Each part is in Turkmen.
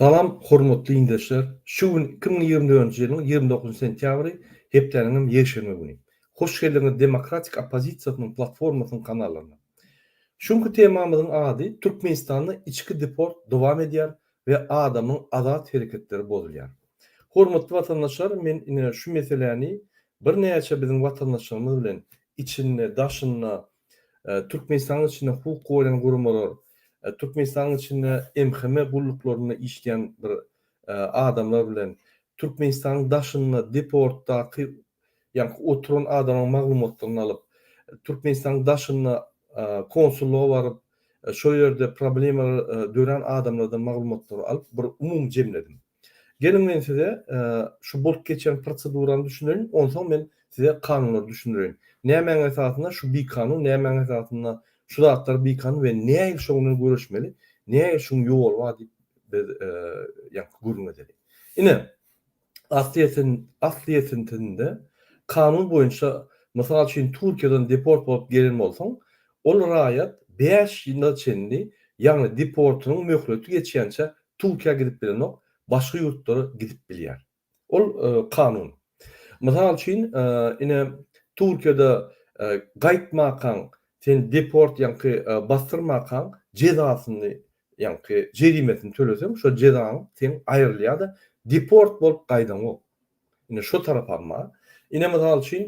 Salam hormatly dindeşler! Şu gün iki müň ýigrimi dördünji ýylyň ýigrimi dokuzynjy sentýabry, hepdäniňem ýekşenbe güni. Hoş geldiňiz Demokratik oppozisiýasynyň platformasynyň kanalyna. Şu günki temamyzyň ady Türkmenistanda içki deport dowam edýär we adamyň azat hereketleri bozulýar. Hormatly watandaşlar men ine şu meseläni birnäçe biziň watandaşlarymyz bilen içinde, daşynda Türkmenistanyň içinde hukuk goraýan guramalar, Türkmenistanyň içinde MHM gulluklarynda işleýän bir adamlar bilen Türkmenistanyň daşynda deportdaky ýaňky oturan adamlaryň maglumatlaryny alyp, Türkmenistanyň daşynda konsullyga baryp, şo ýerde problemalary dörän adamlardan maglumatlary alyp, bir umumy jemledim. Geliň men size şu bolup geçen prosedurany düşündireýin, onsoň men size kanunlary düşündireýin. Nämäň esasynda şu bikanun, nämäň esasynda şu zatlar bikanun we näil şoň bilen göreşmeli, näil şuň ýoly bar diýip biz ýaňky gürrüň edeli. Ine, aslyýetin, aslyýetintinde kanun boýunça mysal üçin Türkiýeden deport bolup gelen bolsaň, ol raýat bäş ýyla çenli, ýagny deportynyň möhleti geçýänçä Türkiýä gidip bilenok, başga ýurtlara gidip bilýär. Ol kanun. Mysal üçin, ine, Türkiýede gaýtmakaň, seni deport, ýaňky basdyrmakaň, jezasyny, ýaňky jerimesini töleseň, şo jezaň seň aýrylýar-da, deport bolup gaýdaňok. Indi şo tarapam bar. Ine mysal üçin,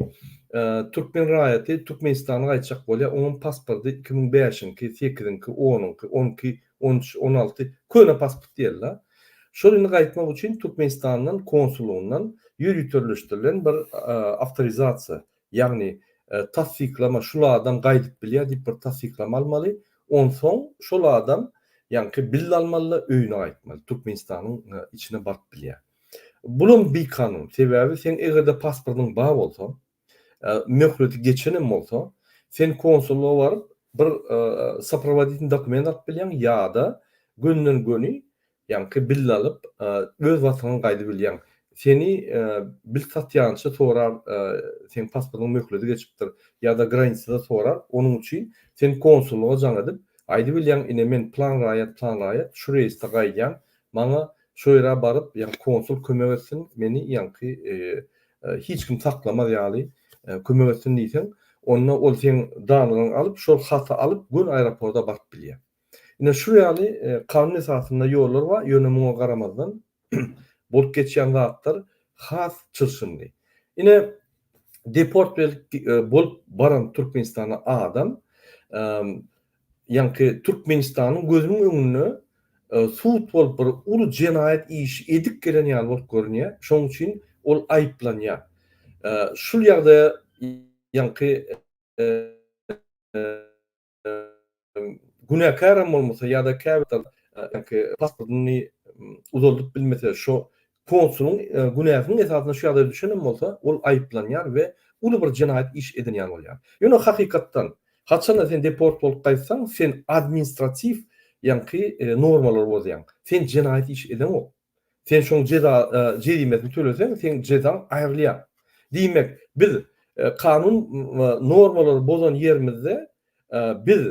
türkmen raýaty Türkmenistana gaýtjak bolýar, onuň pasporty iki müň bäşiňki, sekiziňki, onuňky, on iki, on üç, on alty, köne pasport diýeli-de. Şol indi gaýtmak üçin Türkmenistandan konsullygyndan ýüz ýüterleşdirilen bir awtorizasiýa, ýagny tassyklama, şul adam gaýdyp bilýär diýip bir tassyklama almaly, onsoň şol adam ýaňky bill almaly-da öýüne gaýtmaly, Türkmenistanyň içine baryp bilýär. Bulam bikanun. Sebäbi seň eger-de pasportyň bar bolsa, möhleti geçen hem bolsa, sen konsullyga baryp, bir soprovoditin dokument alyp bilýäň ýa-da gönden-göni, ýaňky bille alyp, öz wagtyňam gaýdyp bilýäň. Seni bilt satýança sorar, seň pasportyň möhleti geçipdir ýa-da granisada sorar, onuň üçin sen konsullyga jaň edip, aýdyp bilýäň, ine men plan raýat, plan raýat, şu reýsde gaýdýan, Maňa şo ýere baryp, ýa konsul kömek etsin, meni ýaňky hiç kim saklamaz ýaly kömek etsin diýseň, onda ol seň danygyňy alyp, şol haty alyp, göni aeroporda baryp bilýär. Ine, şu ýaly kanun esasynda ýollar bar, ýöne muňa garamazdan, bolup geçýän zatlar has çylşyrymly. Ine, deport bolup baran Türkmenistana adam Ýaňky Türkmenistanyň gözüniň öňünde sud bolup bir uly jenaýat işi edip gelen ýaly bolup görünýär. Şonuň üçin ol aýyplanýar. Şul ýagdaýa ýaňky günäkäräm bolmasa ýa-da käbir pasportyny uzaldyp bilmese şo Konsulyň günäsiniň esasynda şu ýagdaýa düşenem bolsa, ol aýyplanýar we uly bir jenaýat iş edinýän bolýar. Ýöne hakykatdan, haçan-da sen deport bolup gaýtsaň, sen administratiw ýaňky normalary bozýaň. Sen jenaýat iş edeňok. Sen şoň jeza jerimesini töleseň, seň jezaň aýrylýar. Diýmek, biz kanun normalary bozan ýerimizde biz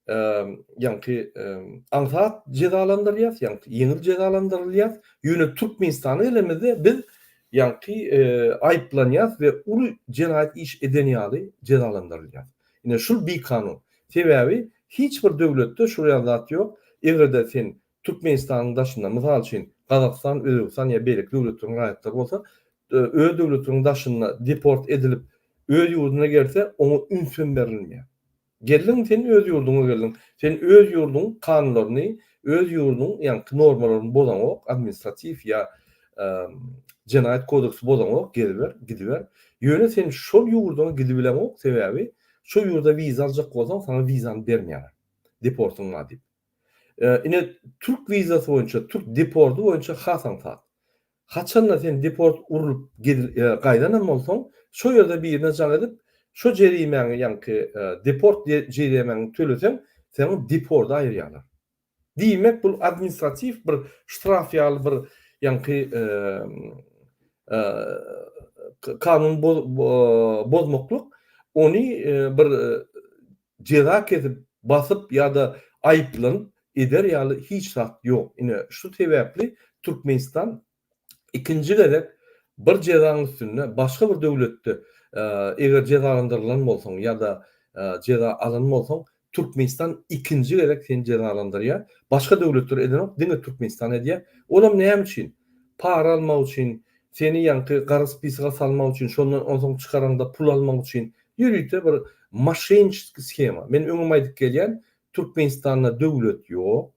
ýaňky aňsat jezalandyrylýas, ýaňky ýeňil jezalandyrylýas. Ýöne Türkmenistana gelenimizde biz ýaňky aýyplanýas we uly jenaýat iş eden ýaly jezalandyrylýas. Ine şul bikanun. Sebäbi hiç bir döwletde şul ýaly zat ýok. Eger-de sen Türkmenistanyň daşynda, mysal üçin, Gazagystan, Özbegistan ýa beýleki döwletleriň raýatlary bolsa, öz döwletiniň daşynda deport edilip, öz ýurduna gelse, oňa üns hem berilmeýär. Geldiň sen öz ýurduňa geldiň. Sen öz ýurduň kanunlaryny öz ýurduň ýaňky normalaryny bozaňok administratiw ýa jenaýat kodeksi bozaňok geziber gidiber ýöne sen şol ýurduňa gidibileňok sebäbi şo ýurda wiza aljak bolsaň saňa wizany bermeýärler deportyň bar diýip ine türk wizasy boýunça türk deporty boýunça has aňsat Haçanda sen deport urlup gaýdanam bolsaň, şo ýerde birine jaň edip, şo jerimäňi, ýaňky deport jerimäňi töleseň, seniň deporda aýyrýarlar. Diýmek, bul administratiw bir ştraf ýaly bir ýaňky kanun bozmaklyk, ony bir Jeza kesip, basyp ýa-da aýyplanyp eder ýaly hiç zat ýok. Ine, şu sebäpli Türkmenistan ikinji gezek bir jezaň üstünde başga bir döwletde eger jezalandyrylan bolsaň ýa-da jeza alan bolsaň, Türkmenistan ikinji gezek seni jezalandyrýar. Başga döwletler edenok, diňe Türkmenistan edýär. Olam näme üçin? Para almak üçin, seni ýaňky gara spisaga salmak üçin, şondan onsoň çykaraňda pul almak üçin. Ýörite bir moşenniçeskiý shema. Men öňem aýdyp gelýän, Türkmenistanda döwlet ýok.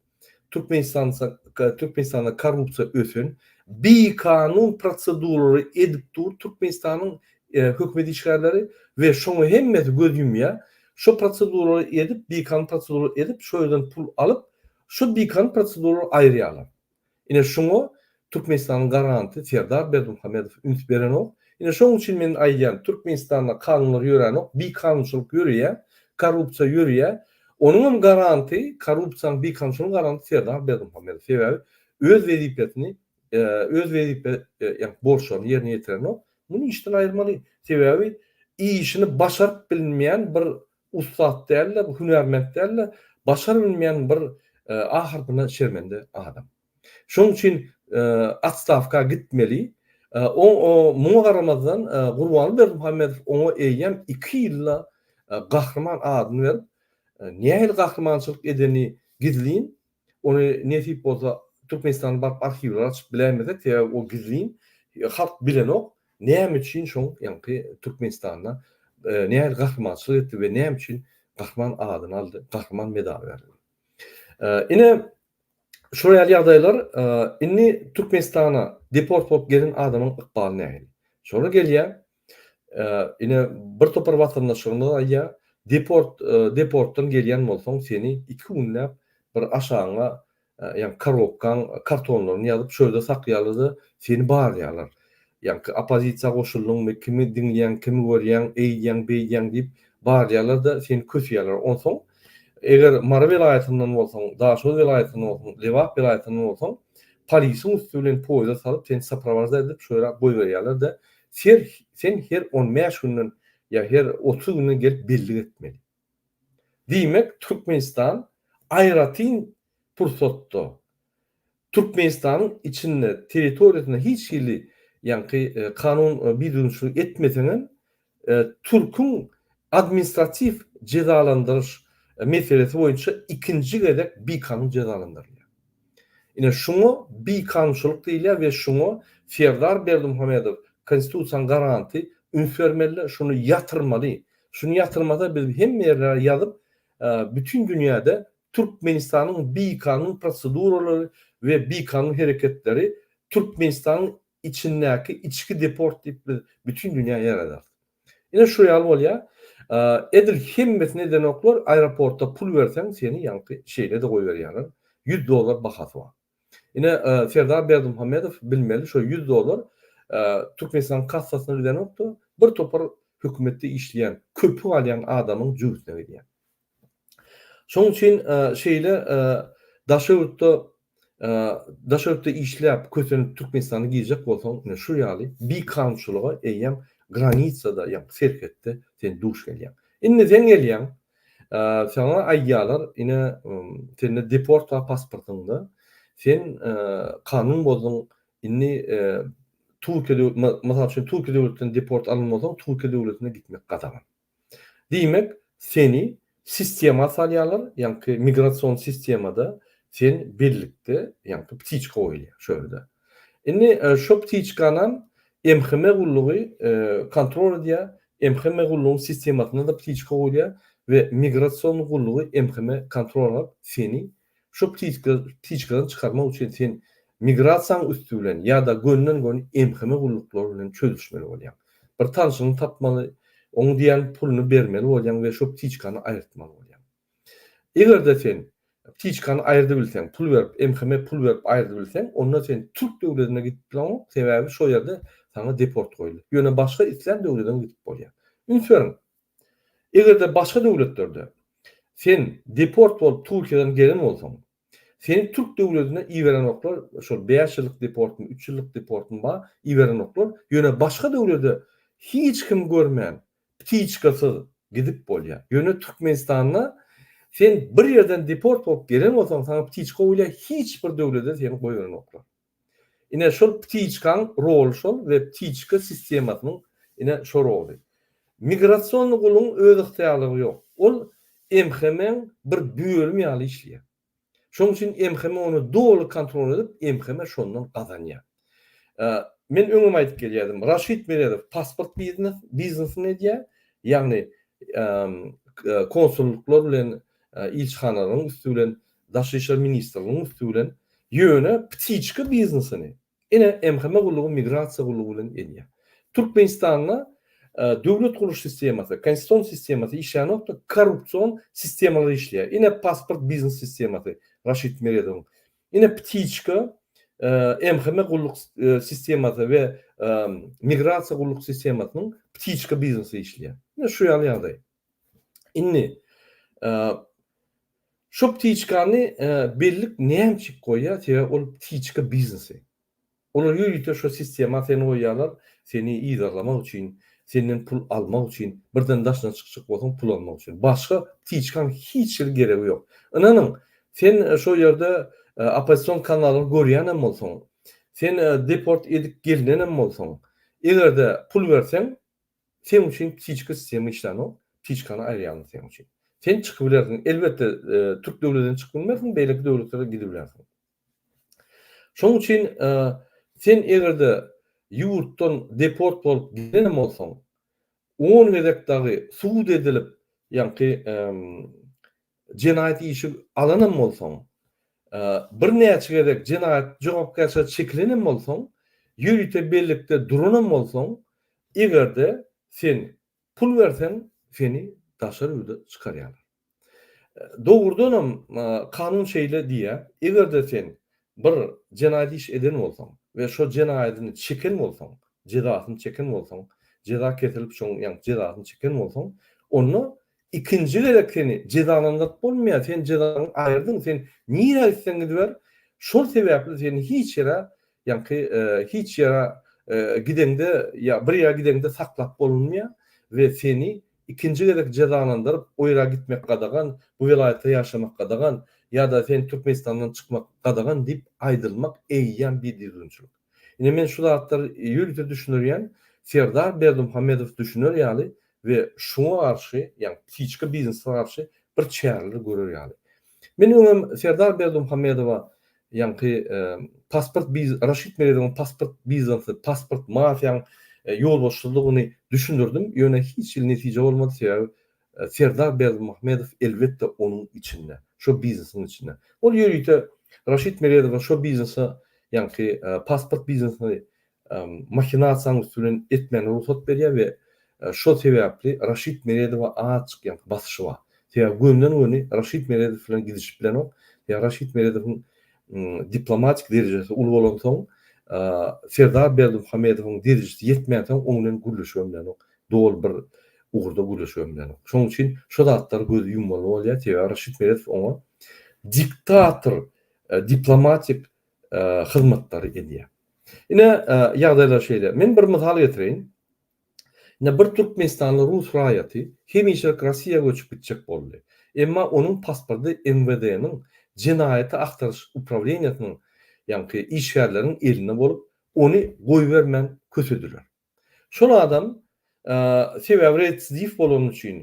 Türkmenistan Türkmenistanda korrupsiýa ösen, bikanun proseduralary edip dur Türkmenistanyň hökümet işgärleri we şoňa hemmesi göz ýumýar. Şo proseduralary edip, bikanun proseduralary edip, şo ýerden pul alyp, şo bikanun proseduralary aýyrýarlar. Ine şuňa Türkmenistanyň garanty Serdar Berdimuhamedow üns berenok. Ine şoň üçin men aýdýan Türkmenistanda kanunlar ýöränok, bikanunçylyk ýörýä, korrupsiýa ýörýä. Onuň hem garanty korrupsiýanyň bikanunçylygyň garanty Serdar Berdimuhamedow. Sebäbi öz wezipesini öz wezipe ýa borçlaryny ýerine ýetirenok. Muny işden aýyrmaly. Sebäbi işini başaryp bilmeýän bir Ussat däl-de, bu hünärment däl-de, başar bilmeýän bir ahyrsyna şermende adam. Şonuň üçin otstawka gitmeli. Muňa garamazdan, Gurbany Berdimuhamedow oňa eýýäm iki ýylda Gahryman adyny berip, nähili gahrymançylyk edeni gizlin, Ony nesip bolsa Türkmenistana baryp arhiwleri açyp bilemizok, sebäbi o gizlin, halk bilenok, näme üçin şoň ýaňky Türkmenistanda nähili gahrymançylyk etdi we näme üçin Gahryman adyny aldy, Gahryman medaly berildi. Ine, şol ýaly ýagdaýlar, indi Türkmenistana deport bolup gelen adamyň ykbaly nähili? Şolar gelýär, Ine, bir topar watandaşlarymyz aýdýar, Deport, deportdan gelýän bolsaň, seni iki günläp bir aşagyňa, ýagny korobkaň kartonlaryny ýazyp, çölde saklaýarlar-da, seni barlaýarlar. Ýagny oppozisiýa goşuldyňmy, kimi diňleýäň, kimi görýäň, eýdýäň, beýdýäň diýip, barlaýarlar-da, seni kösýärler. Onsoň, eger Mary welaýatyndan bolsaň, Daşoguz welaýatyndan bolsaň, Lebap welaýatyndan bolsaň, polisiň üsti bilen poýizda salyp, seni soprowažda edip, şo ýere goýberýärler-de, Ser sen her on bäş günden ýa her otuz günden gelip bellik etmeli. Diýmek, Türkmenistan aýratyn pursatda Türkmenistanyň içinde, territoriýasynda hiç hili ýaňky kanun bidünçilik etmeseň hem, türküň administratiw jezalandyryş meselesi boýunça ikinji gezek bikanun jezalandyrylýar. Ine, şuňa bikanunçylyk diýilýär we şuňa Serdar Berdimuhamedow, Konstitusiýanyň garanty, üns bermeli, şuny ýatyrmaly. Şuny ýatyrmasa, biz hemme ýerlere ýazyp, bütin dünýäde Türkmenistanyň bikanun proseduralary we bikanun hereketleri Türkmenistanyň içindäki içki deport diýip biz bütin dünýä ýaýradar. Ine şu ýaly bolýa. Edil hemmesini edenoklar aeroportda pul berseň seni ýaňky şeýlede goýberýärler. Ýüz dollar bahasy bar. Ine Serdar Berdimuhamedow bilmeli şo ýüz dollar Türkmenistanyň kassasyna gidenokda bir topar hökümetde işleýän köpük alýan adamyň jübüsine gidýär. Şonuň üçin şeýle daşöwütde daşöwütde işläp kösenip Türkmenistana girjek bolsaň ine şu ýaly bikanunçylyga eýýäm granisada ýa serhetde sen duş gelýäň. Indi sen gelýäň saňa aýdýarlar ine sende deport bar pasportyňda sen kanun bozduň indi Türkiýe döwlet mysal üçin Türkiýe döwletinden deport alan bolsaň Türkiýe döwletine gitmek gadagan. Diýmek, seni sistema salýarlar, ýaňky migrasion sistemada sen bellikde, ýaňky ptiçka goýulýar şu ýerde. Indi şo ptiçkanam MHM gullugy kontrol edýär, MHM gullugyň sistemasyna-da ptiçka goýulýar we migrasion gullugy MHM kontrol edip, seni Şu ptiçkany çykarmak üçin sen migrasiýaň üsti bilen ýa-da gönden-gön MHM gulluklary bilen çözüşmeli bolýaň. Bir tanşyňy tapmaly, oň diýen puluny bermeli bolýaň we şu ptiçkany aýyrtmaly bolýaň. Eger-de sen ptiçkany aýyrdybilseň, pul berip, MHM pul berip aýyrdybilseň, onda sen türk döwledine gidip bileňok, sebäbi şo ýerde saňa deport goýuldy. Ýöne başga islän döwledem gidip bolýar. Üns beriň! Eger-de başga döwletlerde sen deport bolup Türkiýeden gelen bolsaň, seni türk döwledine iberenoklar, şol bäş ýyllyk deportmy, üç ýyllyk deportmy bar, iberenoklar, ýöne başga döwlede hiç kimi görmän, ptiçkasyz gidip bolýar. Ýöne Türkmenistanda sen bir ýerden deport bolup gelen bolsaň, saňa ptiçka goýulýar, hiç bir döwlede seni goýberenoklar. Ine şol ptiçkaň roly şol we ptiçka sistemasynyň ine şo roly. Migrasiony guluň öz ygtyýarlygy ýok. Ol MHM-iň bir bölümi ýaly işleýär. Şoň üçin MHM ony doly kontrol edip, MHM şondan gazanýar. Men öňem aýdyp gelýärdim, Raşid Meredow pasport biznes, biznesini edýär, ýagny konsullyklar bilen ilçihanalaryň üsti bilen, Daşary işler ministrliginiň üsti bilen, ýöne ptiçka biznesini ine MHM gullugy migrasiýa gullugy bilen edýär. Türkmenistanda döwlet gurluş sistemasy, konstitusion sistemasy işlänokda korrupsion sistemalar işleýär. Ine pasport biznes sistemasy Raşid Meredowyň. Ine ptiçka MHM gulluk sistemasy we migrasiýa gulluk sistemasynyň ptiçka biznesi işleýär. Ine şu ýaly ýagdaý. Indi şu ptiçkany bellik näme üçin goýýar? Sebäbi ol ptiçka biznesi. Olar ýörite şu sistema seni goýýarlar, seni yzarlamak üçin, senden pul almak üçin, birden daşyna çykjak bolsaň pul almak üçin. Başga ptiçkaň hiç hili geregi ýok. Ynanyň, sen şo ýerde oppozision kanalyny görýän hem bolsaň, sen deport edip gelinen hem bolsaň, eger-de pul berseň, Seň üçin ptiçka sistema işlänok, ptiçkany aýyrýaryn seň üçin. Sen çykybilersiň, elbetde türk döwledinden çykyp bilmersiň, beýleki döwletlere gidibilersiň. Şoň üçin sen egerde ýurtdan deport bolup gidenem bolsaň, on gezek dagy subut edilip, ýaňky jenaýat işi alanam bolsaň, birnäçe gezek jenaýat jogapkärçiligine çekilenem bolsaň, ýörite bellikde duranam bolsaň, eger-de sen pul berseň, seni daşary ýurda çykarýarlar. Dogrudanam, kanun şeýle diýýär, eger-de sen bir jenaýat iş eden bolsaň we şo jenaýadyny çeken bolsaň, jezasyny çeken bolsaň, jeza kesirilip, şoň ýaňky jezasyny çeken bolsaň, onda Ikinji gezek seni jezalandyryp bolmaýar, sen jezaňy aýyrdyň, sen nirä gitseň gidiber, şol sebäpli seni hiç ýere, ýaňky hiç ýere gideňde ýa bir ýere gideňde saklap bolunmaýar we seni ikinji gezek jezalandyryp o ýere gitmek gadagan, bu welaýatda ýaşamak gadagan ýa-da sen Türkmenistandan çykmak gadagan diýip aýdylmak eýýäm bidüzgünçilik. Ine men şu zatlary ýörite düşündirýän, Serdar Berdimuhamedow düşüner ýaly we şuňa garşy, ýagny psihiçka biznese garşy bir çäreler görer ýaly. Men öňem Serdar Berdimuhamedowa ýaňky pasport biz Raşid Meredowyň pasport biznesi, pasport mafiýaň ýolbaşçydygyny düşündirdim, ýöne hiç hili netije bolmady, sebäbi Serdar Berdimuhamedow elbetde onuň içinde, şo biznesiň içinde. Ol ýörite Raşid Meredowa şo biznese, ýaňky pasport biznesini mahinasiýanyň üsti bilen etmäne rugsat berýär we şo sebäpli Raşid Meredowa azjyk ýaňky basyşy bar. Sebäbi gönden-göni Raşid Meredow bilen gidişip bilenok. Sebäbi Raşid Meredowyň diplomatik derejesi uly bolansoň, Serdar Berdimuhamedowyň derejesi ýetmänsoň oň bilen gürleşibem bilenok. doly bir ugurda gürleşip hem bilenok. Şonuň üçin şu zatlara gözi ýummaly bolýar, sebäbi Raşid Meredow oňa diktator diplomatik hyzmatlary edýär. Ine ýagdaýlar şeýle. Men bir mysal getireýin. Ine bir türkmenistanly rus raýaty hemişelik Rossiýa göçüp gitjek boldy. Emma onuň pasporty MWD-niň jenaýaty agtaryş uprawleniýesiniň ýaňky işgärleriniň elinde bolup, ony goýbermän kösediler. Şol adam sebäbi retsidiw bolany üçin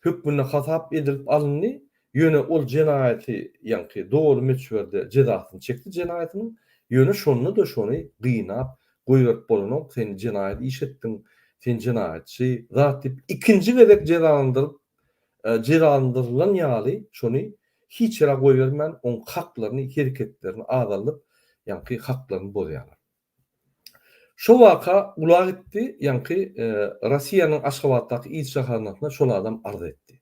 hökmünde hasap edilip alyndy, ýöne ol jenaýaty ýaňky doly möçberde jezasyny çekdi jenaýatynyň, ýöne şonda-da şony gynap goýberip bolanok, sen jenaýat iş etdiň, sen jenaýatçy zat diýip ikinji gezek jezalandyryp jezalandyrylan ýaly şony hiç ýere goýbermän oň haklaryny, hereketlerini azaldyp ýaňky haklaryny bozýarlar. Şo waka ula gitdi, ýaňky Rossiýanyň Aşgabatdaky ilçihanasyna şol adam arz etdi.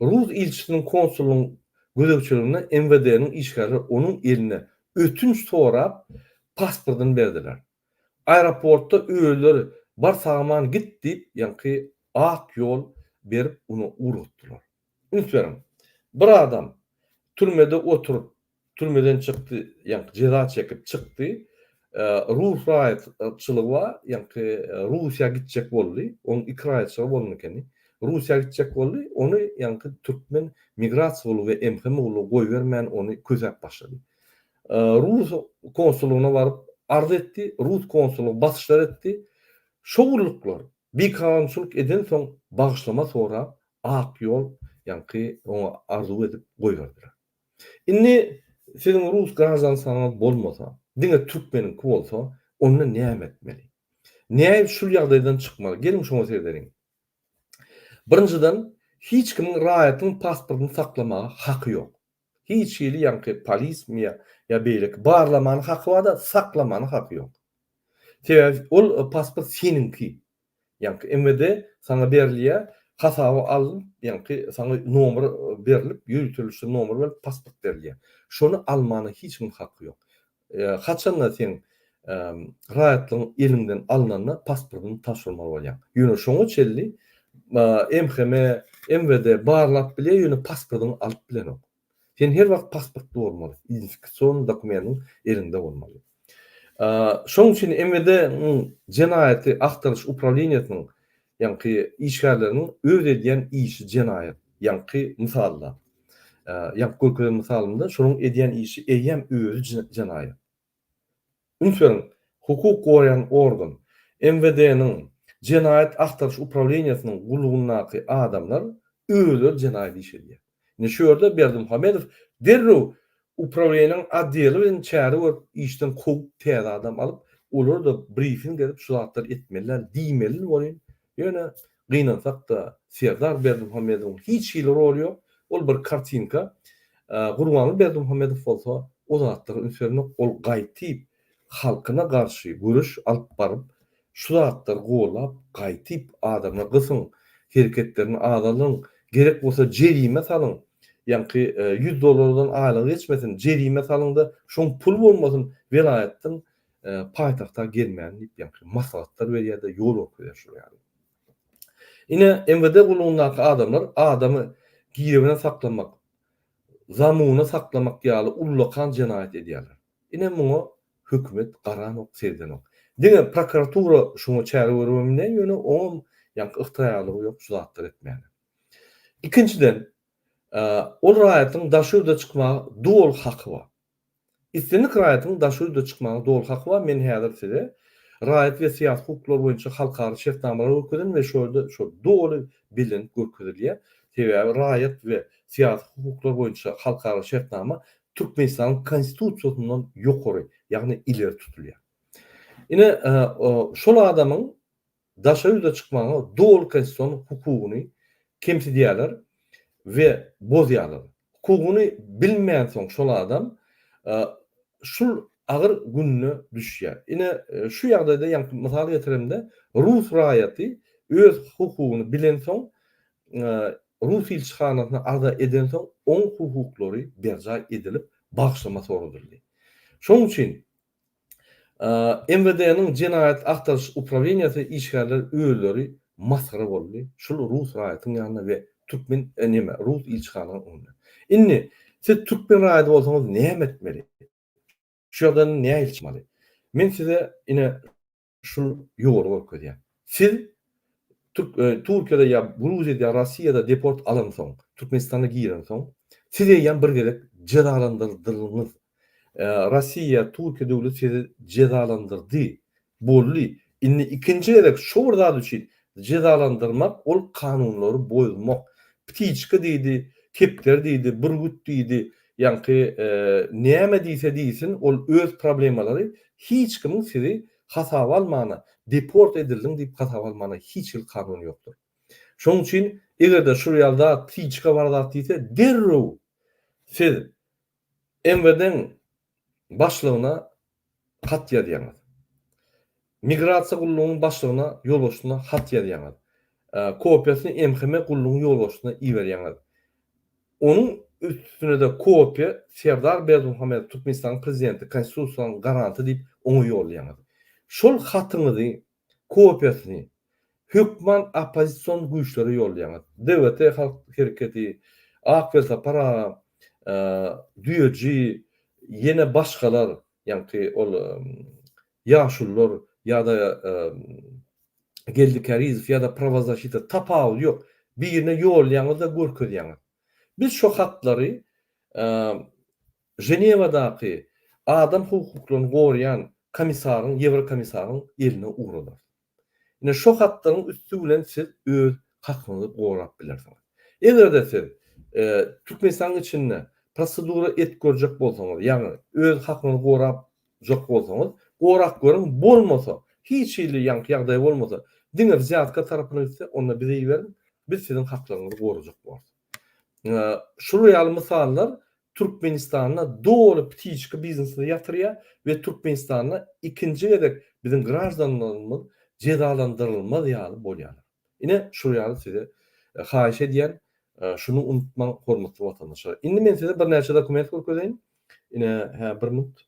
Rus ilçisiniň konsulyň gözegçiliginde MWD-niň işgärleri onuň eline ötünç sorap pasportyny berdiler. Aeroportda özleri Bar sagaman git diýip ýaňky ak ýol berip ony ugratdylar. Üns beriň, bir adam türmede oturyp Türmeden çykdy, ýaňky jeza çekip çykdy. Rus raýatçylygy bar, ýaňky Russiýa gitjek boldy. Onuň iki raýatçylygy bolan ekeni. Russiýa gitjek boldy, ony ýaňky türkmen migrasiýa gullugy we MHM gullugy goýbermän, ony kösäp başlady. Rus konsullygyna baryp arz etdi, rus konsullygy basyşlar etdi. Şo gulluklar bikanunçylyk edensoň bagyşlama sorap, ak ýol ýaňky oňa arzuw edip goýberdiler. Indi siziň rus graždansyňyz bolmasa, diňe türkmeniňki bolsa, onda näme etmeli? Nädip şul ýagdaýdan çykmaly? Geliň şoňa seredeliň. Birinjiden, hiç kimiň raýatyň pasportyny saklamaga haky ýok. Hiç hili ýaňky polismi ýa beýleki barlamana haky bar-da, saklamana haky ýok. Sebäbi ol pasport seniňki. Ýaňky MWD saňa berilýär, hasaba alnyp, ýaňky saňa nomer berilip, ýöriteliş nomer berlip pasport berilýär. Şony almana hiç kimiň haky ýok. Haçanda seň raýatlygyň eliňden alnanda pasportyňy tabşyrmaly bolýaň. Ýöne şoňa çenli MHM, MWD barlap bilýär, ýöne pasportyňy alyp bilenok. Sen her wagt pasportly bolmaly, identifikasion dokumendiň eliňde bolmaly. Şonuň üçin MWD-niň jenaýaty agtaryş uprawleniýesiniň ýaňky işgärleriniň öz edýän işi jenaýat. Ýaňky mysalda, ýaňky görkezen mysalymda şonuň edýän işi eýýäm özi jenaýat. Üns beriň, hukuk goraýan organ, MWD-niň Jenaýat agtaryş uprawleniýesiniň gullugyndaky adamlar özleri jenaýat iş edýär. Indi şu ýerde Berdimuhamedow derrew uprawleniýäniň otdeli bilen çäre görüp, işden kowup, täze adam alyp, olara-da brifing berip, şu zatlary etmeli däl diýmelini welin, ýöne Gynansak-da, Serdar Berdimuhamedowyň hiç hili roly ýok, ol bir kartinka. Gurbanguly Berdimuhamedow bolsa o zatlara üns bermok, ol gaýtyp halkyna garşy göreş alyp baryp, şu zatlary gollap, gaýtyp adamlar gysyň, hereketlerini azalyň, gerek bolsa jerime salyň, ýaňky ýüz dollardan aýlygy geçmesin, jerime salyň-da, şoň pul bolmasyn, welaýatdan paýtagta gelmäni diýip ýaňky maslahatlar berýärdi, ýol görkezýär şular ýaly. Ine MWD gullugyndaky adamlar adamy girewine saklamak, zamuwna saklamak ýaly ullakan jenaýat edýärler. Ine muňa hökümet garanok, seredenok. Diňe prokuratura şuňa çäre görübemine ýöne oňam ýaňky ygtyraýarlygy ýok şu zatlary etmäne. Ikinjiden ol raýatyň daşyurda çykmaga doly haky bar. Islendik raýatyň daşy ýurda çykmagyna doly haky bar, men häzir size raýat we syýasy hukuklary boýunça halkara şertnamalary görkezin we şo ýerde şo doly bellenip görkezilýär, sebäbi raýat we syýasy hukuklar boýunça halkara şertnama Türkmenistanyň Konstitusiýasyndan ýokary, ýagny ileri tutulýar. Ine, şol adamyň daşa ýurda çykmaga doly konstitusion hukugyny kemsidýärler we bozýarlar. Hukugyny bilmänsoň şol adam şul agyr gününe düşýär. Ine şu ýagdaýda ýaňky mysal getiremde rus raýaty öz hukugyny bilensoň rus ilçihanasyna arza edensoň oň hukuklary berjaý edilip bagşlama soradyldy. Şoň üçin MWD-niň jenaýat agtaryş upraweniýasy işgärler özleri masgara boldy şul rus raýatyň ýanynda we türkmen neme rus ilçihanaň öňünde. Indi siz türkmen raýady bolsaňyz näme etmeli? Şu ýagdaýdan nähili çykmaly? Men size ine Şuny ýoly görkezýär. Siz Türk Türkiýede ýa Gruziýada ýa Rossiýada deport alansoň, Türkmenistana girensoň, siz eýýäm bir gezek jezalandyrdylyňyz. Rossiýa ýa Türkiýe döwleti sizi jezalandyrdy. Boldy. Indi ikinji gezek şu bir zat üçin Jezalandyrmak ol kanunlary bozmak. Ptiçka diýdi, kepder diýdi, bürgüt diýdi, ýaňky näme diýse diýsin ol öz problemalary hiç kimiň sizi hasaba almana, deport edildiň diýip hasaba almana hiç hili kanun ýokdur. Şonuň üçin egerde şul ýaly zat ptiçka bar zat diýse derrew siz MWD-niň başlygyna hat ýazýaňyz. Migrasiýa gullugynyň başlygyna, ýolbaşçysyna hat ýazýaňyz. Kopiýasyny MHM gullugynyň ýolbaşçysyna iberýäňiz. Onuň üstüne-de kopiýa Serdar Berdimuhamedow, Türkmenistanyň Prezidenti, Konstitusiýanyň garanty diýip, oňa ýollaýaňyz. Şol hatyňyzy kopiýasyny hökman oppozision güýçlere ýollaýaňyz. DWT halk hereketi, Ak welsapar aga, Düýeji, ýene başgalar, ýaňky ol ýaşulylar ýa-da Geldi Kärizow ýa-da Prawazaşita tapawudy ýok, birine ýollaýaňyz-da görkezýäňiz. Biz şo hatlary Ženewadaky Adam hukuklaryny goraýan komissaryň, ýewrokomissaryň eline ugradarys. Ine, şo hatlaryň üsti bilen siz öz hakyňyzy gorap bilersiňiz. Eger-de siz Türkmenistanyň içinde prosedura edip görjek bolsaňyz, ýagny öz hakyňyzy gorajak bolsaňyz, gorap görüň, bolmasa, hiç hili ýaňky ýagdaý bolmasa, diňe wzýatka tarapyna gitse, onda bize iberiň, biz siziň haklaryňyzy gorajak bolarys. Şular ýaly mysallar Türkmenistanda doly ptiçka biznesini ýatyrýar we Türkmenistanda ikinji gezek biziň graždanlarymyz jezalandyrylmaz ýaly bolýarlar. Ine, şul ýaly size haýyş edýän, şuny unutmaň hormatly watandaşlar. Indi men size birnäçe dokument görkezeýin. Ine, hä, bir minut.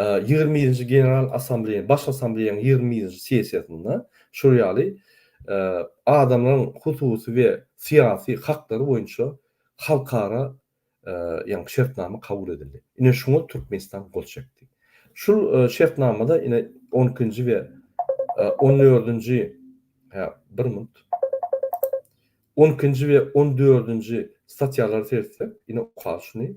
Ýigrimi ýedinji General Assambleýa, Baş Assambleýanyň ýigrimi ýedinji sessiýasynda şol ýaly adamlaryň hususy we syýasy haklary boýunça halkara ýa-ni şertnama kabul edildi. Ine şuňa Türkmenistan gol çekdi. Şul şertnamada ine on ikinji we on dördünji, hä, bir minut, on ikinji we on dördünji statýalary seretsek, ine okar şuny,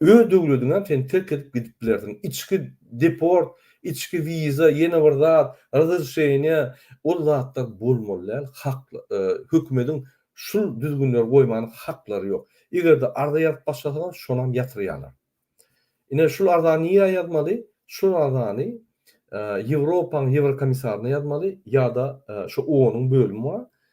Öz döwlediňem sen terk edip gidip bilersiň. Içki deport, içki wiza, ýene bir zat, razrişeniýa, ol zatlar bolmaly däl, hak, hökümediň şul düzgünleri goýman haklary ýok. Eger-de arza ýazyp başlasaňam şonam ýatyrýarlar. Ine şul arzany nirä ýazmaly? Şul arzany Ýewropaň Ýewrokomissaryna ýazmaly ýa-da şo OON-yň bölümi bar,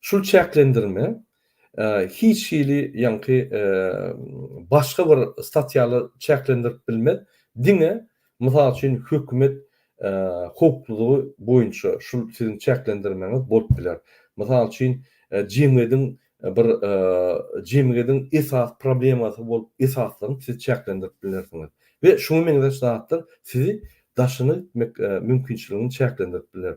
Şu çäklendirme hiç hili ýaňky başga bir statýala çäklendirip bilmez, diňe mysal üçin hökümet howplulygy boýunça şul siziň çäklendirmäňiz bolup biler. Mysal üçin jemgyýediň bir jemgyýediň esasy problemasy bolup esaslygyny siz çäklendirip bilersiňiz we şuňa meňzeş zatlar sizi daşyna gitmek mümkinçiligini çäklendirip biler.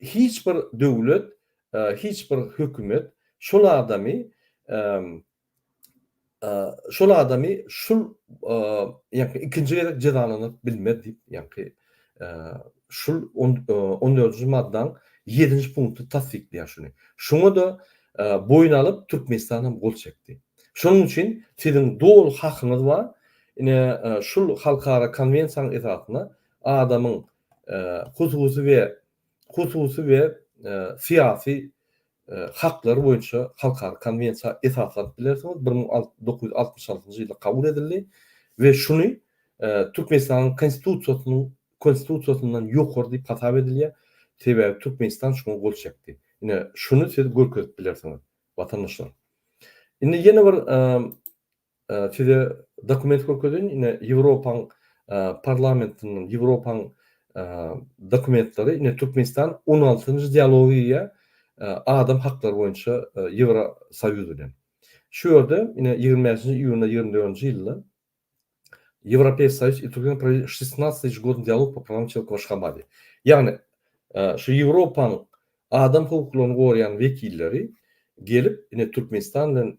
Hiç bir döwlet, hiç bir hökümet şol adamy şol adamy şul ýa-da ikinji gezek jezalanyp bilmez diýip, ýa-da şul on dördünji maddaň ýedinji punkty tassyklaýar şuny. Şuňa-da boýun alyp Türkmenistan hem gol çekdi. Şonuň üçin siziň doly hakyňyz bar. Ine şul halkara konwensiýanyň esasynda adamyň hususy we hususy we syýasy haklar boýunça halkara konwensiýa esaslanyp bilersiňiz, bir müň alty dokuz ýüz altmyş altynjy ýylda kabul edildi we şuny Türkmenistanyň Konstitusiýasynyň Konstitusiýasyndan ýokary diýip hasap edilýär, sebäbi Türkmenistan şuňa gol çekdi. Ine, şuny siz görkezip bilersiňiz, watandaşlar. Indi ýene bir Size dokument görkezeýin, ine Ýewropaň parlamentiniň, Ýewropaň dokumentleri, ine Türkmenistan on altynjy dialoga girýär adam haklary boýunça Ýewrosoýuz bilen. Şu ýerde ine ýigrimi bäşinji iýunda ýigrimi dördünji ýylda Ýewropeisk Soýuz i Türkmen provedýa şestnasty ežegodiýny dialog po prawan çelika we şkabali. Ýagny şu Ýewropaň adam hukuklaryny goraýan wekilleri gelip ine Türkmenistan bilen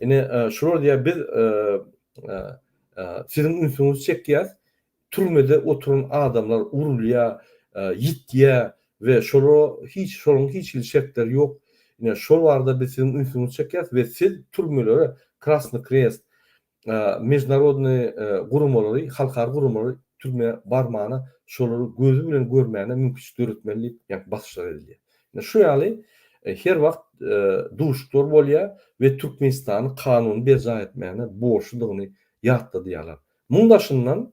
Ine, şular diýýär, biz siziň ünsüňizi çekýäs, türmede oturan adamlar urulýar, ýitýär we şolara hiç, şolaryň hiç hili şertleri ýok. Ine, şol barada biz siziň ünsüňizi çekýäs we siz türmelere Krasny Krest, Mejnarodnyý guramalary, halkara guramalary türmä barmana şolary gözi bilen görmäne mümkiçilik döretmeli diýip ýaňky basyşlar edilýär. Ine şu ýaly her wagt duşuklar bolýa we Türkmenistany kanuny berjaý etmäne borçludygyny ýatladýarlar. Muň daşyndan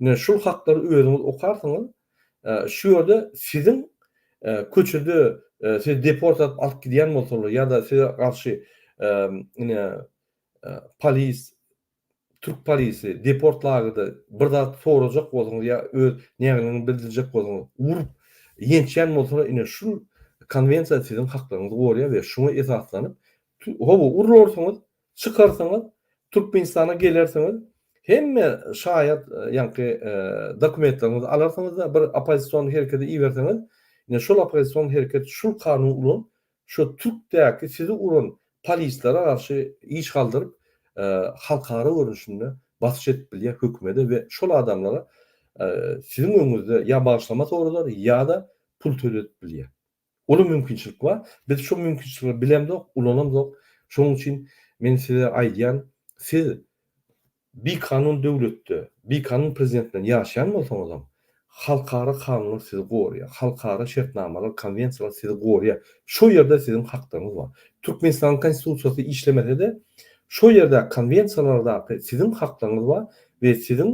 Ine şul hatlary özüňiz okarsyňyz. Şu ýerde siziň köçede sizi deport edip alyp gidýän bolsalar ýa-da size garşy ine polis türk polisi deport lagerda bir zat sorajak bolsaňyz ýa öz nägileňizi bildirjek bolsaňyz urup ýençýän bolsalar ine şul konwensiýa siziň haklaryňyzy gorýar we şuňa esaslanyp howa urularsyňyz Çykarsyňyz Türkmenistana gelersiňiz hemme şaýat ýaňky dokumentleriňizi alarsyňyzda bir opozisýon herekete iberseňiz ine şol opozisýon hereket şul kanun ulan şo türkdäki sizi uran polislere garşy iş galdyryp halkara görnüşinde basyş edip bilýä hökümede we şol adamlara siziň öňüňizde ýa bagyşlama soradar ýa-da pul töledip bilýä. Uly mümkinçilik bar. Biz şu mümkinçilikleri bilemzok, ulanamzok. Şonuň üçin men size aýdýan, siz bikanun döwletde, bikanun prezident bilen ýaşaýan bolsaňyzam, halkara kanunlar sizi goraýar, halkara şertnamalar, konwensiýalar sizi goraýar. Şo ýerde siziň haklaryňyz bar. Türkmenistanyň Konstitusiýasy işlemese-de, şo ýerdäki konwensiýalardaky siziň haklaryňyz bar we siziň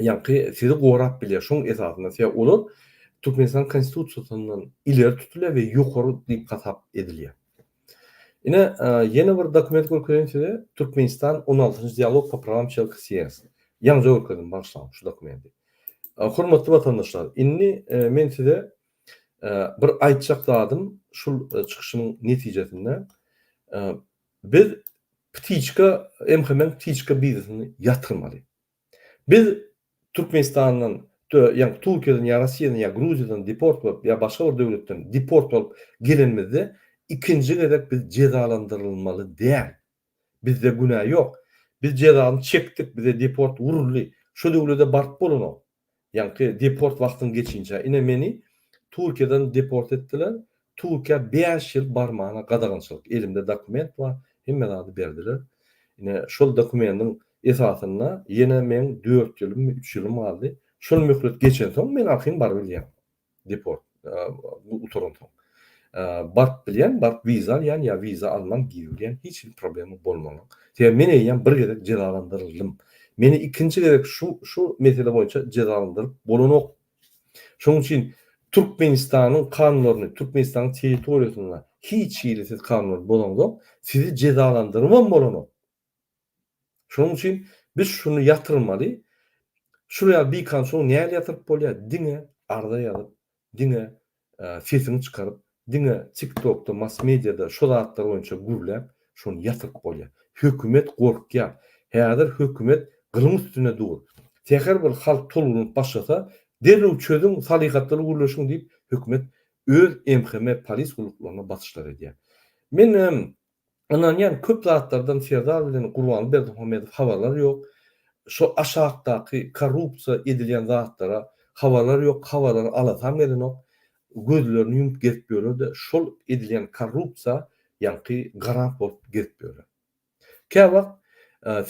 ýaňky sizi gorap bilýär. Şoň esasynda size olar Türkmenistan Konstitusiýasyndan ileri tutulýar we ýokary diýip hasap edilýär. Ine, ýene bir dokument görkezeýin size, Türkmenistan on altynjy dialog po prawam çelki s s. Ýaňja görkezdim, bagyşlaň şu dokumenti. Hormatly watandaşlar, indi men size bir aýtjak zadym şul çykyşymyň netijesinde, biz ptiçka, MHM-iň ptiçka biznesini ýatyrmaly. Biz Türkmenistandan tö ýa Turkiýadan ýa Russiýadan ýa Gruziýadan deport bolup ýa başga bir döwletden deport bolup gelenimizde ikinji gezek biz jezalandyrylmaly däl. Bizde günä ýok. Biz jezany çekdik, bize deport uruldy. Şo döwlede baryp bolanok. Ýaňky deport wagtyň geçince, ine meni Türkiýeden deport etdiler, Türkiýä bäş ýyl barmana gadagançylyk, elimde dokument bar, hemme zady berdiler. Ine şol dokumendiň esasynda ýene meň dört ýylymmy, üç ýylym galdy. Şol möhlet geçensoň men arkaýyn barybilýän. Deport. Gutaran soň. Barp bilýän, barp wiza alýan ýa wiza alman girýän hiç hili problema bolmana. Sebäbi men eýýäm bir gezek jezalandyryldym. Meni ikinji gezek şu şu mesele boýunça jezalandyryp bolanok. Şonuň üçin Türkmenistanyň kanunlaryny, Türkmenistanyň territoriýasynda hiç hili siz kanuny bozaňzok, sizi jezalandyrybam bolanok. Şonuň üçin biz şuny ýatyrmaly. Şuraya bikan soň näle ýatyryp bolýa? Diňe arza ýazyp, diňe sesiňi çykaryp, diňe tiktokda, mass mediada şo zatlar boýunça gürläp, şony ýatyryp bolýa. Hökümet gorkýa. Häzir hökümet gylyň üstünde dur. Säher bir halk tolgunyp başlasa, derrew çözüň, salyhatlyly gürleşiň diýip, hökümet öz MHM polis gulluklaryna basyşlar edýä. Menem Ynanýan köp zatlardan Serdar bilen Gurban Berdimuhamedow habarlary ýok. Şo aşakdaky korrupsiýa edilýän zatlara habarlary ýok, habarlary alasam gelenok. Gözlerini ýumup gezip ýörerde şol edilýän korrupsiýa ýaňky garant bolup gezip ýöre. Kä wagt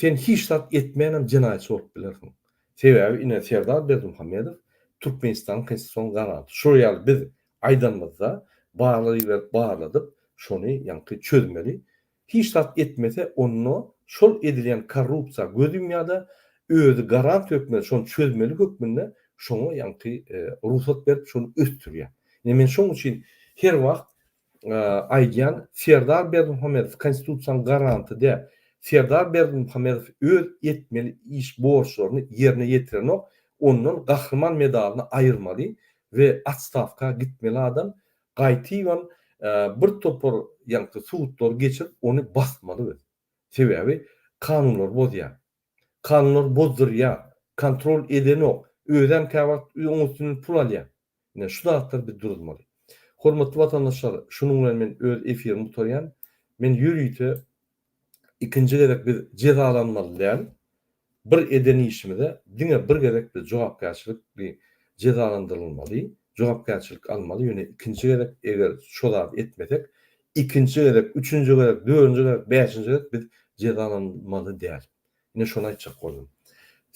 sen hiç zat etmänem jenaýatçy bolup bilersiň. Sebäbi ine Serdar Berdimuhamedow Türkmenistanyň konstitusion garanty. Şular ýaly biz Aýdanymyzda barlaýberip barladyp şony ýaňky çözmeli. Hiç zat etmese onda şol edilýän korrupsiýa göz ýumýada özi garant hökmünde şony çözmeli hökmünde şoňa ýaňky rugsat berip şony ösdürýär. Ine men şoň üçin her wagt aýdýan Serdar Berdimuhamedow konstitusiýanyň garanty dä. Serdar Berdimuhamedow öz etmeli iş borçlaryny ýerine ýetirenok ondan gahryman medalyny aýyrmaly we otstawka gitmeli adam gaýtybam bir topar ýaňky sudlary geçirip ony basmaly biz. Sebäbi kanunlary bozýar. Kanunlary bozdurýar. Kontrol edenok. Özem käwagt oň üstünden pul alýar. Ine şu zatlar biz duruzmaly. Hormatly watandaşlar şunuň bilen men öz efirimi gutarýan. Men ýörite ikinji gezek biz jezalanmaly däl, bir eden işimize diňe bir gezek biz jogapkärçilikli jezalandyrylmaly, jogapkärçilik almaly, ýöne ikinji gezek eger şo zady etmesek, ikinji gezek, üçünji gezek, dördünji gezek, bäşinji gezek biz jezalanmaly däl. Ine şony aýtjak boldum.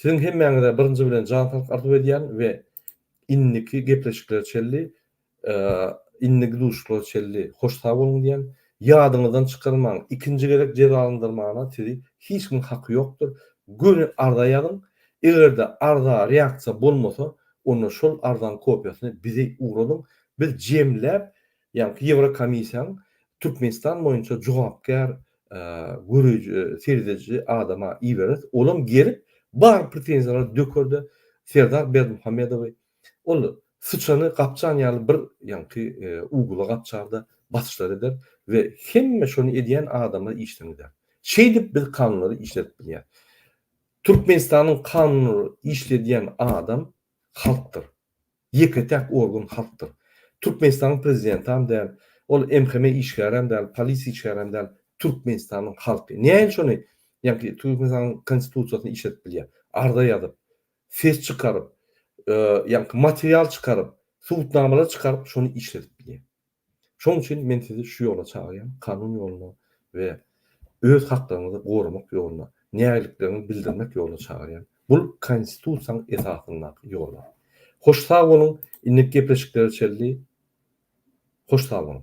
Siziň hemmäňize birinji bilen jan saglyk arzuw edýän we indiki gepleşiklere çenli Indiki duşuşyga çenli hoş sag boluň diýýän. Ýadyňyzdan çykarmaň, ikinji gezek jezalandyrmagyna sizi hiç kimiň haky ýokdur. Göni arza ýazyň. Eger-de arza reaksiýa bolmasa, onda şol arzanyň kopiýasyny bize ugradyň. Biz jemläp, ýaňky Ýewrokomissiýanyň Türkmenistan boýunça jogapkär göreji, serediji adama ibereris. Olam gelip, bar pretenziýalary döker-de, Serdar Berdimuhamedowy Ol syçany gapjan ýaly bir ýaňky ugla gapjar-da, basyşlar eder we hemme şony edýän adamlar işden gider. Şeýdip biz kanunlary işledip bilýäs. Türkmenistanyň kanunlary işledýän adam halkdyr. Ýeke-täk organ halkdyr. Türkmenistanyň prezidentam däl, ol MHM işgärem däl, polisiýa işgärem däl, Türkmenistanyň halky. Näme şony ýaňky Türkmenistanyň konstitusiýasyny işledip bilýär? Arza ýazyp, ses çykaryp, ýa-da material çykaryp, subutnamalar çykaryp, şony işledip bilýär. Şonuň üçin men sizi şu ýola çagyrýan, kanun ýoluna we öz haklaryňyzy goramak ýoluna, nägilikleriňizi bildirmek ýoluna çagyrýan. Bul Konstitusiýanyň esasyndaky ýollar. Hoş sag boluň, indiki gepleşiklere çenli hoş sag boluň.